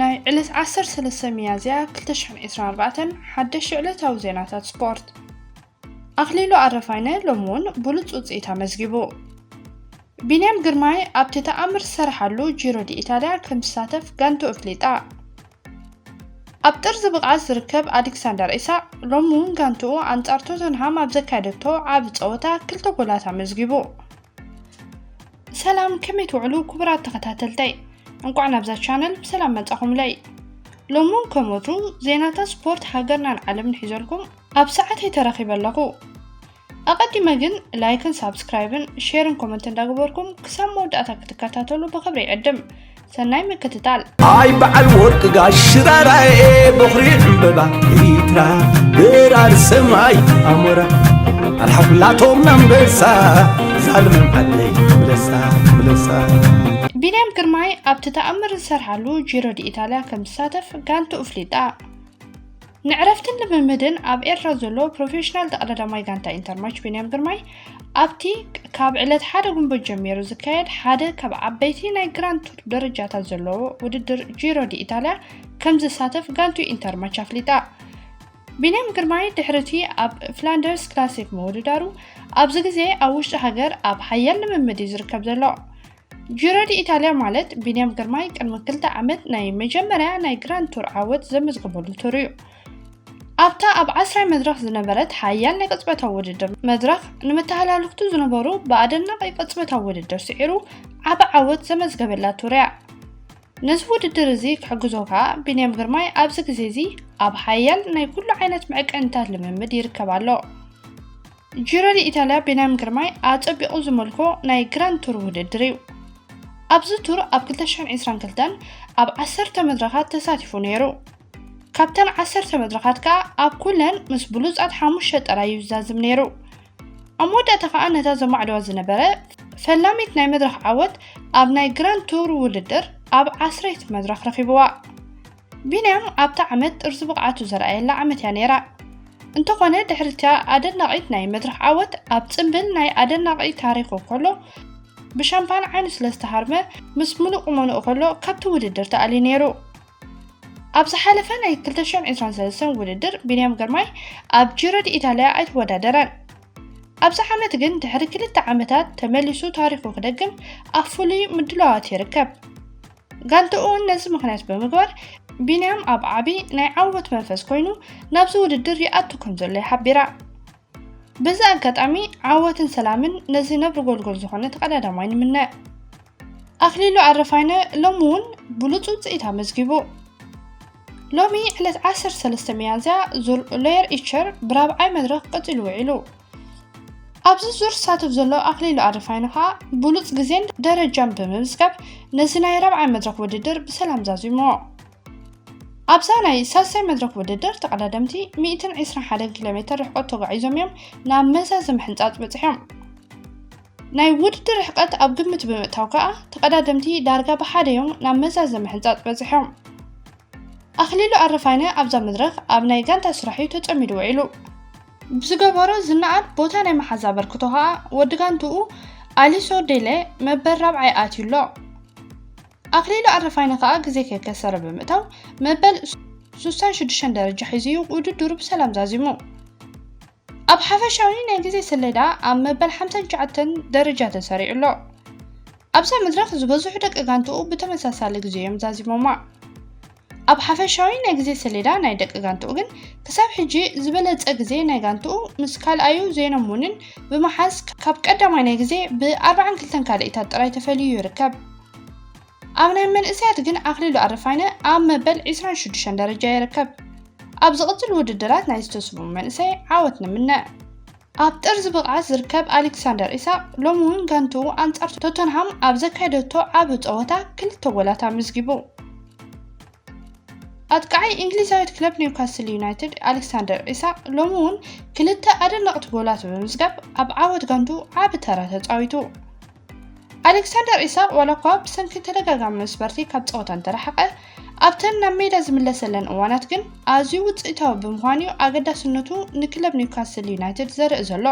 ናይ ዕለት ዓሰርተ ሰለስተ ሚያዝያ ክልተ ሽሕን ዒስራን ኣርባዕተን ሓደሽቲ ዕለታዊ ዜናታት ስፖርት ኣኽሊሉ ኣረፋይነ ሎሚ እውን ብሉፅ ውፅኢት ኣመዝጊቡ ቢንያም ግርማይ ኣብቲ ተኣምር ዝሰረሓሉ ጂሮ ዲ ኢታልያ ከም ዝሳተፍ ጋንቱ እፍሊጣ ኣብ ጥርዚ ብቕዓት ዝርከብ ኣሌክሳንደር ኢሳቅ ሎሚ እውን ጋንትኡ ኣንጻር ቶተንሃም ኣብ ዘካየደቶ ዓቢ ጸወታ ክልተ ጎላት ኣመዝጊቡ ሰላም ከመይ ትውዕሉ ክቡራት ተኸታተልተይ እንቋዕ ናብዛ ቻነል ብሰላም መጻኹምለይ ሎሚ እውን ከም ወትሩ ዜናታት ስፖርት ሃገርናን ዓለምን ሒዘልኩም ኣብ ሰዓተይ ተረኺበ ኣለኹ ኣቐዲመ ግን ላይክን ሳብስክራይብን ሼርን ኮመንት እንዳገበርኩም ክሳብ መወዳእታ ክትከታተሉ ብኽብሪ ይዕድም ሰናይ ምክትታል። ኣይ በዓል ወርቂ ጋሽ ሽራራኤ በኹሪ ዕምበባ ኤሪትራ ብራር ሰማይ ኣሞራ ኣልሓኩላቶም ናንበሳ ዛልምም ዓደይ ምለሳ ምለሳ ቢንያም ግርማይ ኣብቲ ተኣምር ዝሰርሓሉ ጂሮ ዲ ኢጣልያ ከም ዝሳተፍ ጋንትኡ ኣፍሊጣ። ንዕረፍትን ልምምድን ኣብ ኤርትራ ዘሎ ፕሮፌሽናል ጠቕላዳማይ ጋንታ ኢንተርማች ቢንያም ግርማይ ኣብቲ ካብ ዕለት ሓደ ጉንበት ጀሚሩ ዝካየድ ሓደ ካብ ዓበይቲ ናይ ግራንድ ቱር ደረጃታት ዘለዎ ውድድር ጂሮ ዲ ኢታልያ ከም ዝሳተፍ ጋንቱ ኢንተርማች ኣፍሊጣ። ቢንያም ግርማይ ድሕሪ እቲ ኣብ ፍላንደርስ ክላሲክ ምውድዳሩ ኣብዚ ግዜ ኣብ ውሽጢ ሃገር ኣብ ሓያል ልምምድ እዩ ዝርከብ ዘሎ ጂሮ ዲኢታልያ ማለት ቢንያም ግርማይ ቅድሚ ክልተ ዓመት ናይ መጀመርያ ናይ ግራንድ ቱር ዓወት ዘመዝገበሉ ቱር እዩ። ኣብታ ኣብ ዓስራይ መድረኽ ዝነበረት ሓያል ናይ ቅጽበታዊ ውድድር መድረኽ ንመተሃላልኽቱ ዝነበሩ ብኣደናቒ ቅጽበታዊ ውድድር ስዒሩ ዓቢ ዓወት ዘመዝገበላ ቱር እያ። ነዚ ውድድር እዚ ክሕግዞ ከኣ ቢንያም ግርማይ ኣብዚ ግዜ እዚ ኣብ ሓያል ናይ ኩሉ ዓይነት መዕቀኒታት ልምምድ ይርከብ ኣሎ። ጂሮ ዲኢታልያ ቢንያም ግርማይ ኣጸቢቑ ዝመልኮ ናይ ግራንድ ቱር ውድድር እዩ። ኣብዚ ቱር ኣብ 2022 ኣብ ዓሰርተ መድረኻት ተሳቲፉ ነይሩ። ካብተን ዓሰርተ መድረኻት ከኣ ኣብ ኩለን ምስ ብሉጻት ሓሙሽተ ጥራይ እዩ ዝዛዝም ነይሩ። ኣብ መወዳእታ ከኣ ነታ ዘማዕድዋ ዝነበረ ፈላሚት ናይ መድረኽ ዓወት ኣብ ናይ ግራንድ ቱር ውድድር ኣብ ዓስረይቲ መድረኽ ረኺብዋ። ቢንያም ኣብታ ዓመት ጥርዚ ብቕዓቱ ዘርኣየላ ዓመት እያ ነይራ። እንተኾነ ድሕሪ'ታ ኣደናቒት ናይ መድረኽ ዓወት ኣብ ጽምብል ናይ ኣደናቒ ታሪኹ ከሎ ብሻምፓን ዓይኑ ስለ ዝተሃርመ ምስ ምሉእ ቁመንኡ ከሎ ካብቲ ውድድር ተኣልዩ ነይሩ። ኣብ ዝሓለፈ ናይ 2023 ውድድር ቢንያም ግርማይ ኣብ ጂሮ ዲ ኢታልያ ኣይተወዳደረን። ኣብዚ ዓመት ግን ድሕሪ ክልተ ዓመታት ተመሊሱ ታሪኹ ክደግም ኣብ ፍሉይ ምድላዋት ይርከብ። ጋንትኡ እውን ነዚ ምክንያት ብምግባር ቢንያም ኣብ ዓቢ ናይ ዓወት መንፈስ ኮይኑ ናብዚ ውድድር ይኣቱ ከም ዘሎ ይሓቢራ በዚ ኣጋጣሚ ዓወትን ሰላምን ነዚ ነብሪ ጎልጎል ዝኾነ ተቐዳዳማይ ንምነ ኣኽሊሉ ኣረፋይነ ሎሚ እውን ብሉፅ ውፅኢት ኣመዝጊቡ ሎሚ ዕለት 13 ሚያዝያ ዙር ሎየር ኢቸር ብራብዓይ መድረኽ ቀፂሉ ውዒሉ ኣብዚ ዙር ዝሳተፍ ዘሎ ኣኽሊሉ ኣረፋይነ ከኣ ብሉጽ ግዜን ደረጃን ብምምዝጋብ ነዚ ናይ ራብዓይ መድረኽ ውድድር ብሰላም ዛዚሙ። ኣብዛ ናይ ሳልሳይ መድረኽ ውድድር ተቐዳደምቲ ሚእትን ዒስራን ሓደን ኪሎ ሜተር ርሕቀት ተጓዒዞም እዮም ናብ መዛዚ ምሕንጻጽ በጺሖም። ናይ ውድድር ርሕቀት ኣብ ግምት ብምእታው ከኣ ተቐዳደምቲ ዳርጋ ብሓደ እዮም ናብ መዛዚ ምሕንጻጽ በጺሖም። ኣኽሊሉ ኣረፋይነ ኣብዛ መድረኽ ኣብ ናይ ጋንታ ስራሕ እዩ ተጸሚዱ ውዒሉ። ብዝገበሮ ዝነኣድ ቦታ ናይ ምሓዝ ኣበርክቶ ከኣ ወዲ ጋንትኡ ኣሊሶ ዴለ መበል ራብዓይ ኣትዩ ኣሎ። ኣክሊሉ ኣረፋይነ ከኣ ግዜ ከይከሰረ ብምእታው መበል ሱሳን ሽዱሽተን ደረጃ ሒዙ እዩ ውድድሩ ብሰላም ዛዚሙ። ኣብ ሓፈሻዊ ናይ ግዜ ሰሌዳ ኣብ መበል ሓምሳን ትሽዓተን ደረጃ ተሰሪዑ ኣሎ። ኣብዛ መድረኽ ዝበዝሑ ደቂ ጋንትኡ ብተመሳሳሊ ግዜ እዮም ዛዚሞማ። ኣብ ሓፈሻዊ ናይ ግዜ ሰሌዳ ናይ ደቂ ጋንትኡ ግን ክሳብ ሕጂ ዝበለጸ ግዜ ናይ ጋንትኡ ምስ ካልኣዩ ዜኖ ሙኒን ብምሓዝ ካብ ቀዳማይ ናይ ግዜ ብ ኣርባዓን ክልተን ካልኢታት ጥራይ ተፈልዩ ይርከብ። ኣብ ናይ መንእሰያት ግን ኣኽሊሉ ኣረፋይነ ኣብ መበል ዕስራን ሽዱሽተን ደረጃ ይርከብ። ኣብ ዝቕጽል ውድድራት ናይዚ ተስፉው መንእሰይ ዓወት ንምነ። ኣብ ጥርዚ ብቕዓት ዝርከብ ኣሌክሳንደር ኢሳቕ ሎሚ'ውን ጋንትኡ ኣንጻር ቶተንሃም ኣብ ዘካየደቶ ዓቢ ጸወታ ክልተ ጎላት ኣመዝጊቡ። ኣጥቃዓይ እንግሊዛዊት ክለብ ኒውካስል ዩናይትድ ኣሌክሳንደር ኢሳቕ ሎሚ'ውን ክልተ ኣደነቕቲ ጎላት ብምምዝጋብ ኣብ ዓወት ጋንትኡ ዓቢ ተራ ተጻዊቱ። ኣሌክሳንደር ኢሳቕ ዋላ እኳ ብሰንኪ ተደጋጋሚ መስበርቲ ካብ ፀወታ እንተረሓቐ፣ ኣብተን ናብ ሜዳ ዝምለሰለን እዋናት ግን ኣዝዩ ውፅኢታዊ ብምዃን'ዩ ኣገዳስነቱ ንክለብ ኒውካስል ዩናይትድ ዘርኢ ዘሎ።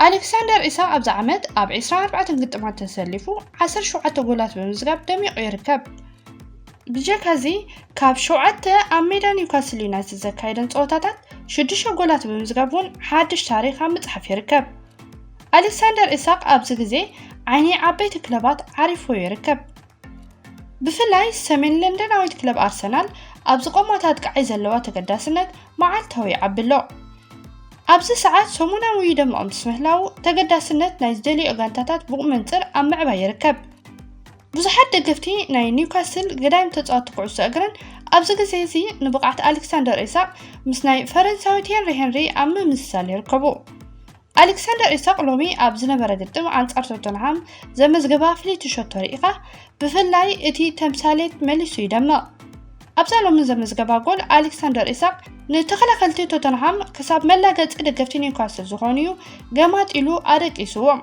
ኣሌክሳንደር ኢሳቕ ኣብዚ ዓመት ኣብ ዕስራን ኣርባዕተን ግጥማት ተሰሊፉ ዓሰርተ ሸውዓተ ጎላት ብምምዝጋብ ደሚቑ ይርከብ። ብጀካ እዚ ካብ ሸውዓተ ኣብ ሜዳ ኒውካስል ዩናይትድ ዘካየደን ፀወታታት ሽዱሽተ ጎላት ብምምዝጋብ እውን ሓድሽ ታሪኽ ኣብ ምፅሓፍ ይርከብ። ኣሌክሳንደር ኢሳቕ ኣብዚ ግዜ ዓይኒ ዓበይቲ ክለባት ዓሪፉ ይርከብ። ብፍላይ ሰሜን ለንደናዊት ክለብ ኣርሰናል ኣብ ዝቖማት ኣጥቃዓይ ዘለዋ ተገዳስነት መዓልታዊ ይዓቢ ኣሎ። ኣብዚ ሰዓት ሰሙናዊ ይደምቕ ምስ ምህላዉ ተገዳስነት ናይ ዝደልዮ ጋንታታት ብቑመንጽር ኣብ ምዕባይ ይርከብ። ብዙሓት ደገፍቲ ናይ ኒውካስል ገዳይም ተጻወቲ ኩዕሶ እግርን ኣብዚ ግዜ እዚ ንብቕዓት ኣሌክሳንደር ኢሳቕ ምስ ናይ ፈረንሳዊት ሄንሪ ሄንሪ ኣብ ምምስሳል ይርከቡ። ኣሌክሳንደር ኢሳቕ ሎሚ ኣብ ዝነበረ ግጥም ኣንጻር ቶተንሃም ዘመዝገባ ፍልይቲ ሸቶ ርኢኻ ብፍላይ እቲ ተምሳሌት መሊሱ ይደምቕ። ኣብዛ ሎሚ ዘመዝገባ ጎል ኣሌክሳንደር ኢሳቕ ንተኸላኸልቲ ቶተንሃም ክሳብ መላገጺ ደገፍቲ ኒውካስል ዝኾኑዩ ገማጢሉ ኣደቂስዎም።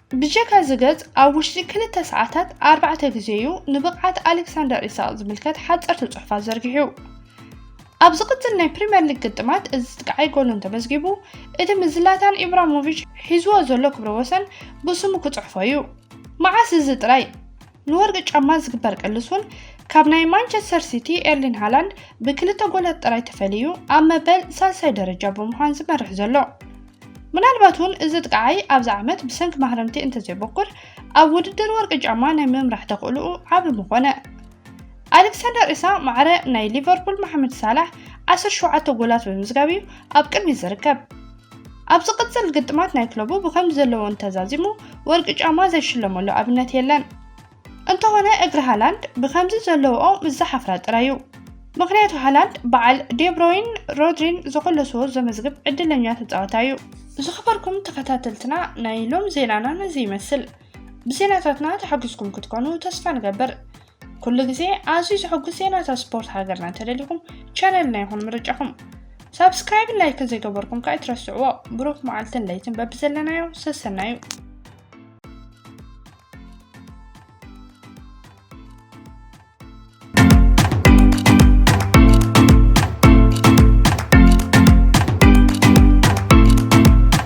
ብጀካ እዚ ገጽ፣ ኣብ ውሽጢ ክልተ ሰዓታት ኣርባዕተ ግዜ'ዩ ንብቕዓት ኣሌክሳንደር ኢሳቕ ዝምልከት ሓጸርቲ ጽሑፋት ዘርጊሑ። ኣብ ዝቕጽል ናይ ፕሪምየር ሊግ ግጥማት እዚ ጥቃዓይ ጎል እንተመዝጊቡ፣ እቲ ምስ ዝላታን ኢብራሞቪች ሒዝዎ ዘሎ ክብረ ወሰን ብስሙ ክጽሕፎ'ዩ። መዓስ እዚ ጥራይ! ንወርቂ ጫማ ዝግበር ቅልሱን ካብ ናይ ማንቸስተር ሲቲ ኤርሊን ሃላንድ ብክልተ ጎላት ጥራይ ተፈልዩ ኣብ መበል ሳልሳይ ደረጃ ብምዃን ዝመርሕ ዘሎ። ምናልባት እውን እዚ ጥቃዓይ ኣብዚ ዓመት ብሰንኪ ማህረምቲ እንተዘይበኩር ኣብ ውድድር ወርቂ ጫማ ናይ ምምራሕ ተኽእልኡ ዓቢ ምኾነ። ኣሌክሳንደር ኢሳ ማዕረ ናይ ሊቨርፑል መሓመድ ሳላሕ 17 ጎላት ብምዝጋብ እዩ ኣብ ቅድሚት ዝርከብ። ኣብ ዝቕጽል ግጥማት ናይ ክለቡ ብከምዚ ዘለዎ እንተዛዚሙ ወርቂ ጫማ ዘይሽለመሉ ኣብነት የለን። እንተኾነ እግሪ ሃላንድ ብከምዚ ዘለዎኦ ምስ ዝሓፍራ ጥራይ እዩ። ምኽንያቱ ሃላንድ በዓል ዴብሮይን ሮድሪን ዘኾለስዎ ዘመዝግብ ዕድለኛ ተጻዋታይ እዩ። ዝኸበርኩም ተኸታተልትና ናይ ሎም ዜናና ነዚ ይመስል። ብዜናታትና ተሓጉስኩም ክትኮኑ ተስፋ ንገብር። ኩሉ ግዜ ኣዝዩ ዘሐጉስ ዜናታት ስፖርት ሃገርና እንተደሊኹም ቻነልና ይኹን ምርጫኹም ሳብስክራይብን ላይክን ዘይገበርኩም ከ ኣይትረስዕዎ ብሩኽ መዓልትን ለይትን በብዘለናዮ ሰሰናዩ